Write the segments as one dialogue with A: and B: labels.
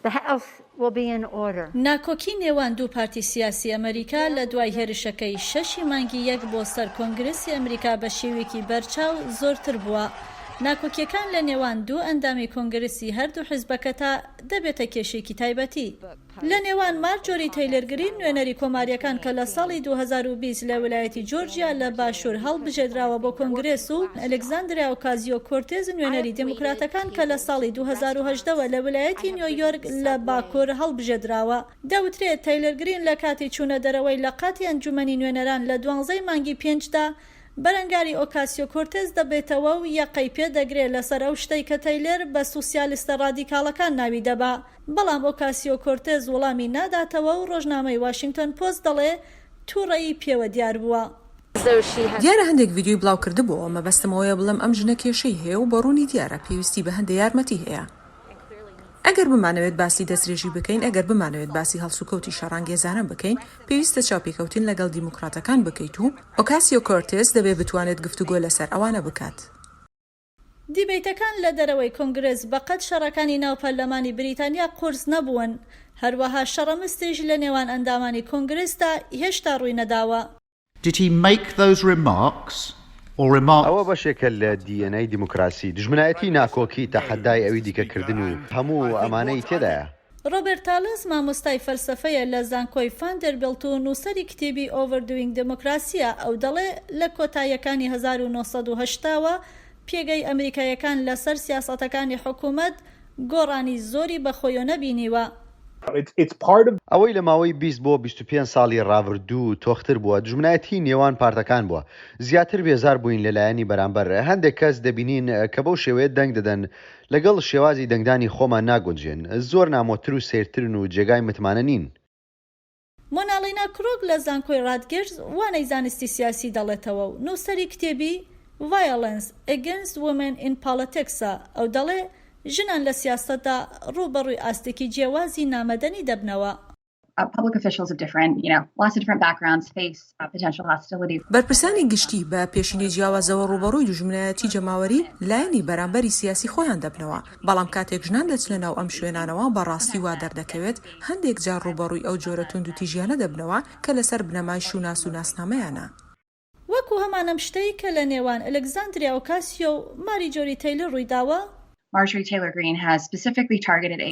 A: The House will be in order. ناکۆکی نێوان دوو پارتی سیاسی ئەمەریکا لە دوای هێرشەکەی شەش ی مانگی یەک بۆ سەر کۆنگرێسی ئەمریکا بە شێویەکی بەرچاو زۆرتر بووە. ناکۆکیەکان لە نێوان دوو ئەندامی کۆنگرێسی هەردوو حیزبەکە تا دەبێتە کێشەیەکی تایبەتی. لە نێوان مارجۆری تەیلر گرین نوێنەری کۆماریەکان کە لە ساڵی دوو هەزار و بیست لە ویلایەتی جۆرجیا لە باشور هەڵبژێدراوە بۆ کۆنگرێس و، ئەلێکزاندرا ئۆکازیۆ-کۆرتێز نوێنەری دێموکراتەکان کە لە ساڵی دوو هەزار و هەژدە وە لە ویلایەتی نیۆیۆرک لە باکوور هەڵبژێدراوە. دەوترێت تەیلەر گرین لە کاتی چوونە دەرەوەی لە قاتی ئەنجومەنی نوێنەران لە دوانزەی مانگی پێنج دا بەرەنگاری ئۆکاسیۆ-کۆرتێز دەبێتەوە و یەقەی پێ دەگرێ لەسەر ئەو شتەی کە تەیلەر بە سوسیالستە ڕادیکاڵەکان ناوی دەبا بەڵام ئۆکاسیۆ-کۆرتێز وڵامی ناداتەوە و ڕۆژنامەی واشینگتۆن پۆست دەڵێ توڕەیی پێوە دیار بووە. زەوشی هەست.
B: دیارە هەندێک ڤیدیۆی بڵاو کردبۆوە مەبەستم ئەوەیە بڵێم ئەم ژنە کێشەی هەیە و بەڕوونی دیارە پێویستی بە هەندێ یارمەتی هەیە ئەگەر بمانەوێت باسی دەسترێژی بکەین ئەگەر بمانەوێت باسی هەڵسوکەوتی شەڕانگێزانە بکەین پێویستە چاوپێکەوتن لەگەڵ دیموکراتەکان بکەیت و ئۆکاسیۆ کۆرتێز دەبێت بتوانێت گفتوگۆ لەسەر ئەوانە بکات.
A: دیبەیتەکان لە دەرەوەی کۆنگرێس بەقەد شەڕەکانی ناو پەرلەمانی بریتانیا قورس نەبوون، هەروەها شەڕە مستیش لە نێوان ئەندامانی کۆنگرێسدا هێشتا ڕووی نەداوە. Did he
C: make those remarks or remark.
D: ئەوە بەشێکە لە دی ئێن ئەی دیموکراسی، دوژمنایەتی، ناکۆکی، تەحەدای ئەوی دیکە کردن و هەموو ئەمانەی تێدایە. ڕۆبێرت تالس
A: مامۆستای فەلسەفەیە لە زانکۆی ڤاندێربیڵت و نووسەری کتێبی Overdoing Democracy ە، ئەو دەڵێ لە کۆتاییەکانی هەزار و نۆ سەد و هەشتا وە پێگەی ئەمریکاییەکان لەسەر سیاسەتەکانی حکوومەت گۆڕانی زۆری بە خۆیۆنە بینیوە.
D: ئەوەی لە ماوەی بیست بۆ بیست و پێنج ساڵی ڕابردوو تۆختر بووە دوژمنایەتیی نێوان پارتەکان بووە. زیاتر بێزار بووین لە لایەنی بەرامبەر. هەندێک کەس دەبینین کە بەو شێوەیە دەنگ دەدەن لەگەڵ شێوازی دەنگدانی خۆمان ناگونجێن، زۆر نامۆتر و سەیرترن و جێگای متمانە نین.
A: مۆنالینا کروگ لە زانکۆی ڕاتگێرز وانەی زانستی سیاسی دەڵێتەوە و نووسەری کتێبی Violence Against Women in Politics ە، ئەو دەڵێ ژنان لە سیاسەتدا ڕووبەڕووی ئاستێکی جێوازی نامەدەنی دەبنەوە،
E: بەرپرسانی گشتی
B: بە پێشینەی جیاوازەوە ڕووبەڕووی دوژمنایەتی جەماوەری لایەنی بەرامبەری سیاسی خۆیان دەبنەوە، بەڵام کاتێک ژنان دەچنە ناو ئەم شوێنانەوە بە ڕاستی وا دەردەکەوێت هەندێک جار ڕووبەڕووی ئەو جۆرە توندوتیژیانە دەبنەوە کە لەسەر بنەمای شوناس و ناسنامەیانە. وەکو
A: هەمان ئەم شتەی کە لە نێوان ئەلێکزاندریا ئۆکاسیۆ و ماریجۆری تەیلر ڕووی داوە.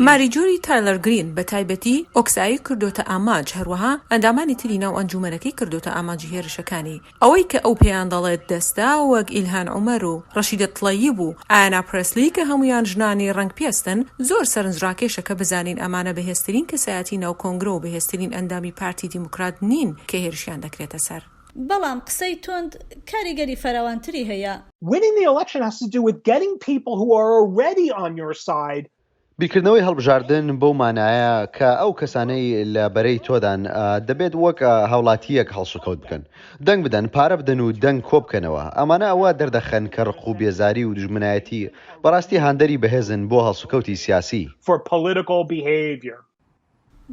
B: ماریجۆری تایلر گرین بە تایبەتی ئۆکسایی کردۆتە ئامانج، هەروەها ئەندامانی تری ناو ئەنجوومەنەکەی کردۆتە ئامانجی هێرشەکانی. ئەوەی کە ئەو پێیان دەڵێت دەستە وەک ئیلهان عومەر و ڕەشیدە تڵەیب و ئایانا پرێسلی کە هەموویان ژنانی ڕەنگ پێستن، زۆر سەرنجڕاکێشە کە بزانین ئەمانە بەهێزترین کەسایەتی ناو کۆنگرە و بەهێزترین ئەندامی پارتی دیموکرات نین کە هێرشیان دەکرێتە سەر. بەڵام قسەی
A: توند کاریگەری فراوانتری هەیە. Winning the election
F: has to do with getting people who are already on your side. بیرکردنەوەی
D: هەڵبژاردن بەو مانایە کە ئەو کەسانەی لە بەرەی تۆدان دەبێت وەک هاوڵاتییەک هەڵسوکەوت بکەن، دەنگ بدەن، پارە بدەن و دەنگ کۆبکەنەوە. ئەمانە ئەوە دەردەخەن کە ڕق و بێزاری و دوژمنایەتی بەڕاستی هاندەری بەهێزن بۆ هەڵسوکەوتی سیاسی. for political
F: behavior.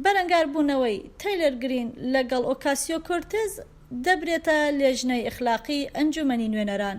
A: بەرەنگاربوونەوەی تەیلەر گرین لەگەڵ ئۆکاسیۆ کۆرتێز دەبرێتە لێژنەی ئەخلاقی ئەنجوومەنی نوێنەران.